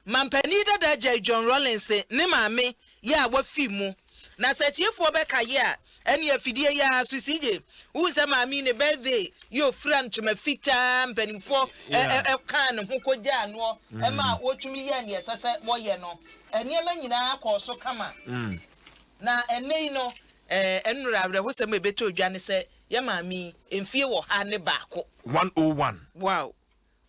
Mampanin dada agyae John Rawlings ne maame yɛ a wafi mu. Na sɛ atiefoɔ bɛka yɛ a, ɛne afidie yɛ ara so si gye. Wohu sɛ maame yi ne birthday yɛ ofira ntoma fitaa mpaninfoɔ ɛ-ɛ-ɛ kaa ne ho kɔgyaa noɔ ma wɔtumi yɛɛ neɛ ɛsɛ sɛ wɔyɛ no. Nneɛma nyinaa kɔɔ so kama. Na ɛnnɛ yi no. Ɛɛ nnora awerɛhosɛm a ɛbɛtɔ dwa ne sɛ yɛ maame yi mfie ɔha ne baako. One oh one. Wow.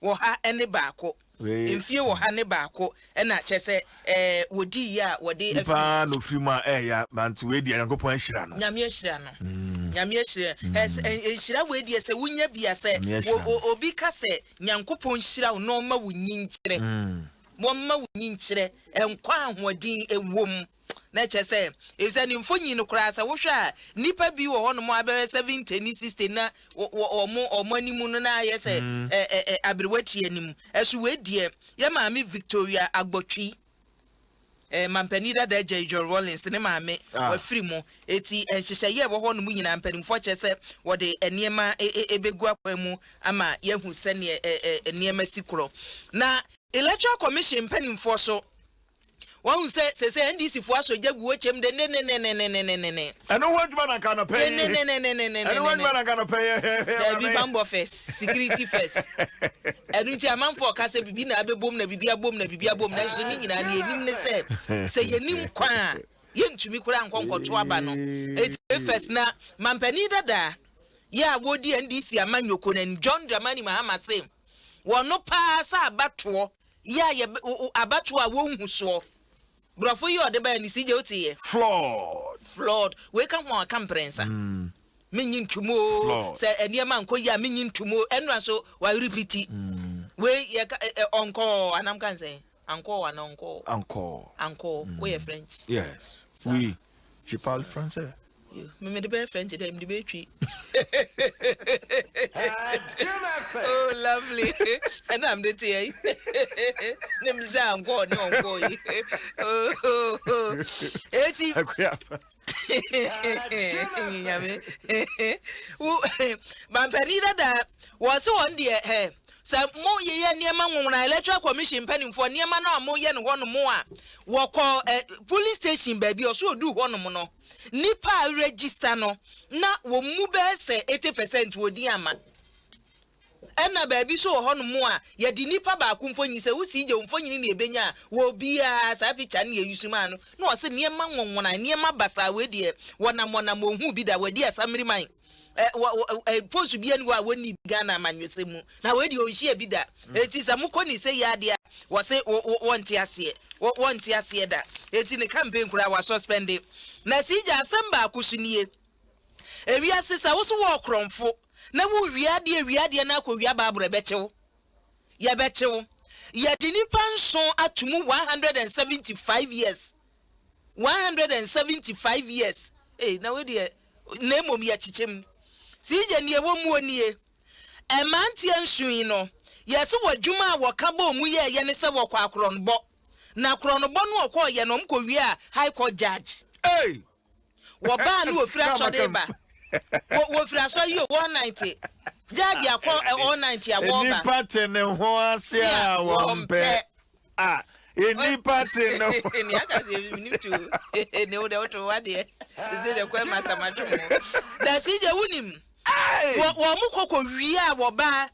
wɔ ha ne baako. Mfie wɔ ha ne baako na kyerɛ sɛ ɛɛ wɔdi yie a wɔde afiri. Nipa na ofiri mu a ɛyɛ ya ma nti wei deɛ Nyankopɔn ahyira no. Nyame ahyira no. Mm. Nyame ahyira. Mm. Ɛs, nhyira wei deɛ sɛ wonya bi a sɛ obi ka sɛ Nyankopɔn nhyira wo na ɔma wo nyi nkyerɛ. Mm. Wɔmma wo nyi nkyerɛ nkwa ahoɔden ɛwom. Na ɛkyerɛ sɛ, efisɛ ne mfonyin no koraa, sɛ wohwɛ a, nnipa bi wɔ hɔnom a bɛyɛ seventy ne sixty na wɔ wɔn wɔn anim no na ayɛ sɛ ɛ ɛ ɛ aberewa ti anim. Ɛso wei deɛ, yɛn maame Victoria Agbotwi, ɛɛ mampanin dada agya yi John Rawlings ne maame, Ah. wɔafiri mu. Eti nhyehyɛeɛ a ɛwɔ hɔnom nyinaa, mpanimfoɔ kyerɛ sɛ wɔde nneɛma ɛ ɛ ɛbɛgu akwan mu ama yɛahu sɛdeɛ ɛ ɛ nneɛma si korɔ. Na Electoral Commission mpanimfoɔ so, Wahu sɛ seesei NDC foɔ asɔ gya gu hɔ kyɛm dennennennennennennennennenn. Ɛno ho adwuma na nka anɔpa yi. Dennennennennennennennennenn. Ɛno ho adwuma na nka anɔpa yi. Daabi, banbɔ first, security first. Ɛno nti amanfoɔ reka sɛ biribi na abɛbom na biribi abom na biribi abom nanso ne nyinaa deɛ yɛnim ne sɛ, sɛ yɛnim kwan a, yɛntumi koraa nkɔ nkɔto aba no. Eti wei first na mampanin dada yi a ɔredi NDC amanyɔkuo no anim, John Dramani Mahama se wɔno paa sɛ abatoɔ Yɛ a yɛbɛ wo wo abatoɔ a wɔnhu soɔ. Brɔfo yi a ɔde baeɛ no, CJ wote yɛ? Flawed. Flawed. Wei ka ho a ɔka mprɛnsa. Mennye ntom oo, Flawed. sɛ nneɛma nkɔ yie a mennye ntom oo, ɛnora nso wa repeati. Wei yɛ ka ɛ ɛ ɔnkɔɔ anaa mka no sɛn? Ankɔɔ anaa ɔnkɔɔ? Ankɔɔ. Ankɔɔ. Woyɛ French. Yes. Saa. Wii. Tu parle français? Yo, me mede bɛyɛ French dɛ, mede bɛyɛ twi. oh, lovely. Ɛna mede te yɛ. Ne me sɛ ankɔ ne ɔnkɔ yi. Eti. Nyame. Wo, bampani dada, wɔn se wɔn deɛ, ɛ, Sɛ mo yeyɛ nneɛma nwonwona electoral commission mpaninfoɔ nneɛma no a mo yɛ no hɔ nom a wɔ kɔ ɛ polling station baabi ɔso ɔduu hɔ nom no nnipa a register no na wɔn mu bɛɛ sɛ 80 percent wɔ din ama ɛna baabi so wɔ hɔ nom a yɛde nnipa baako mfonyin sɛ wo sii gye wo mfonyin na ɛbɛnya a wɔ obiara saa picture no yɛ yusu maa no na ɔse nneɛma nwonwona nneɛma basaa wei deɛ wɔnam wɔnam wɔn hu bi da wɔadi asamiri man post bi ani hɔ a wɔnni ghana amanyɔsɛm mu na wɔadi ɔnhyia bi da ɛti mm. sɛ mokɔ ne sɛ yɛ adeɛ a wɔse wɔnte aseɛ wɔnte aseɛ da ɛti ne campaign koraa wɔasuspɛnde na si gya asɛm baako so nie ewiase sɛ wo so wɔ ɔkorɔmfo na wowia adeɛ wia adeɛ no akɔwia baaboro ɛbɛkyew yɛbɛkyew yɛde nipa nson ato mu 175 years one hundred and seventy five years ei na wei deɛ na mmom yɛkyekyɛ mu sii gye neɛ ɛwɔ muo nie ɛmanteɛ nsuyi no yɛse wɔ dwuma a wɔka bɔɔ mu yɛ yɛ ne sɛ wɔkɔ akorɔnbɔ na korɔnbɔ no ɔkɔ yɛ no ɔmkɔ wie a high court judge ei wɔbaa no wɔfiri asɔre ba wɔfiri asɔre yi wɔn nante judge akɔ wɔn nante a wɔba nipa te ne ho ase a wɔn pɛ a nnipa te no. ne aka sɛ menim to ne wo dɛ woto wa deɛ ɛsɛ dɛ kwan ma samadwo mo na si gye wonim wɔ mo kɔkɔ wie a wɔbaa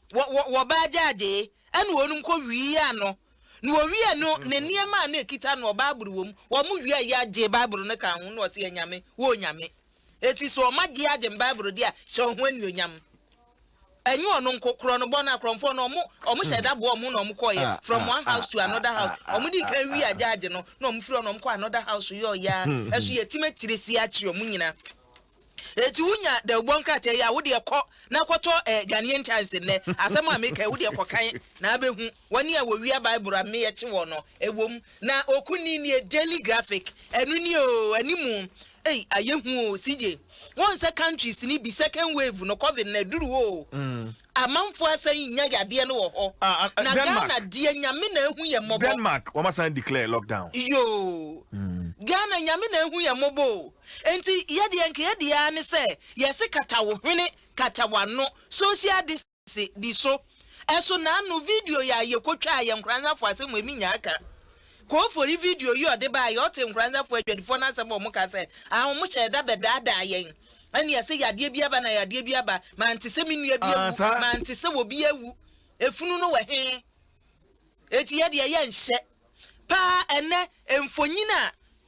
wɔbaa gyaadee ɛne wɔnom kɔ wie a no na wɔwie no ne nneɛma a na ɛkita no ɔbaa boro wɔ mu wɔ mo wie a yɛagye baaboro no ka ho na ɔse yɛ nyame wɔ nyame Enti sɛ ɔma gye agye me Bible di a, hyɛ wo ho anuonyam. Ɛnyɛ ɔno nko, korɔ no bɔ no akorɔmfoɔ no, wɔn, wɔn hyɛ da boa wɔn na wɔn kɔɔyɛ, from one house to another house. Wɔn di kan wi agye agye no, na wɔn firi hɔ na wɔn kɔ another house yɛ ɔyɛ a, ɛso yɛ tim atire si akyere wɔn nyina. Eti wonya dawubɔ nkrataa yi a, wo deɛ kɔ na kɔtɔ eh, Ghanaian Times nnɛ, asɛm a meka yi, wo deɛ kɔkan na abɛhu. wɔn a wɔwia Bible a me yɛkye wɔn no, ɛwom, na oku ni nie, Daily Graphic, ɛno ni oo, animu, ei, ayɛ hu oo, CJ, wɔn sɛ countries ni bi, second wave no, covid no, aduru oo, amanfoɔ asan nya yadeɛ no wɔ hɔ, ah, ah, na Denmark. Ghana deɛ Nyame na ahu yɛ mmɔbɔ. Denmark, wɔn asan declare lockdown. Yoo, mm. Ghana Nyame na ahu yɛ mmɔbɔ o, enti yɛdeɛ nka yɛdeɛ ara ne sɛ, yɛse kata wo hwene, kata w'ano, social distance. ase di so. Ɛso na ano video yi a yekotwaa yɛ Nkoranzafo asɛm mu emi nyaa ka. Koofori video yi a ɔde bae, ɔtee Nkoranzafo adwadifo no asɛm a wɔka sɛ, Ah, wɔhyɛɛ da bɛdaadaa yɛn. Ɛnneɛ sɛ yadeɛ bi aba na yadeɛ bi aba, mante sɛ me nua bi awu, mante sɛ obi awu. Efunu no wɔ he? Enti yɛ deɛ yɛnhyɛ. Paa ɛnnɛ, mfonyin a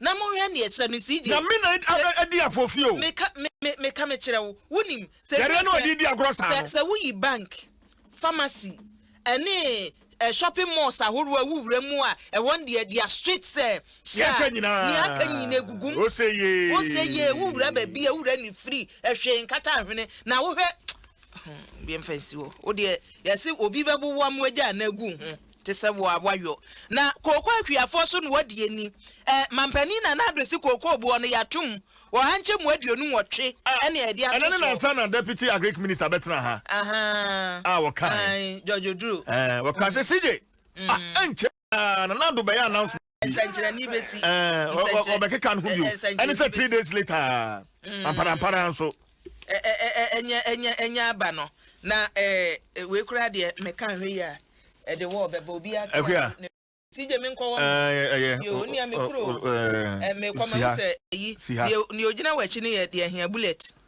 Na monhwɛ neɛ ɛhyɛ no CJ. Nyame na adi afɔfie o. Meka meka mekyerɛ wo wonim. Yareɛ na ɔde di agorɔ saa no. Sɛ woyi bank, pharmacy ɛne shopping malls ahoroɔ a ɛwɔ wura mu a ɛhɔ no deɛ they are strict sɛ hyɛ a neɛ aka nyina ɛgugum. Wose yee. Wose yee wo wura baabi a wo wura ne firi ɛhwee nkata ahwene na wohwɛ. Hum yɛmfa nsi hɔ wodeɛ yɛse obi bɛboboa mo agya anaa agu wo ho. te sɛ wo a woayɔ na kooko akuafoɔ so na wɔadi ani ɛ Mampanin Nana Addo se kookoo boɔ no yɛato mu wɔ ha nkyɛmu aduonu nwɔtwe ɛne a yɛde ato so. Ɛnɛ ne nansa na Deputy Agric Minister bɛtena ha a wɔkae. George Oduro. Wɔkaa sɛ CJ, ah ɛnkyɛ Nana Addo bɛyɛ announcement. nsɛnkyerɛnne bɛsi ɔbɛkeka no ho bio ɛne sɛ three days later mm. amparampara nso ɛnyɛ aba no na wei koraa deɛ meka nhwɛ yi a ɛde wɔ bɛba obi ato si gye me nkɔ wɔ yɛ nea me kuro mekɔ ma sɛ yi nea ogyina wɔ akyi no yɛ deɛ hia bullet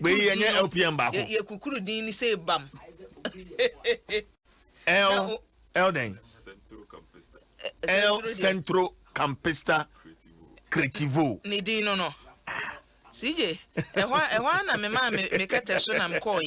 Wei yɛ nyɛ LPM baako. Yɛ kukuru din ni sɛ bam. L L den. L Centro Campista Creativo. Ne din no no. CJ, ɛhɔ ɛhɔ na me maa me kɛtɛ so na mekɔɔ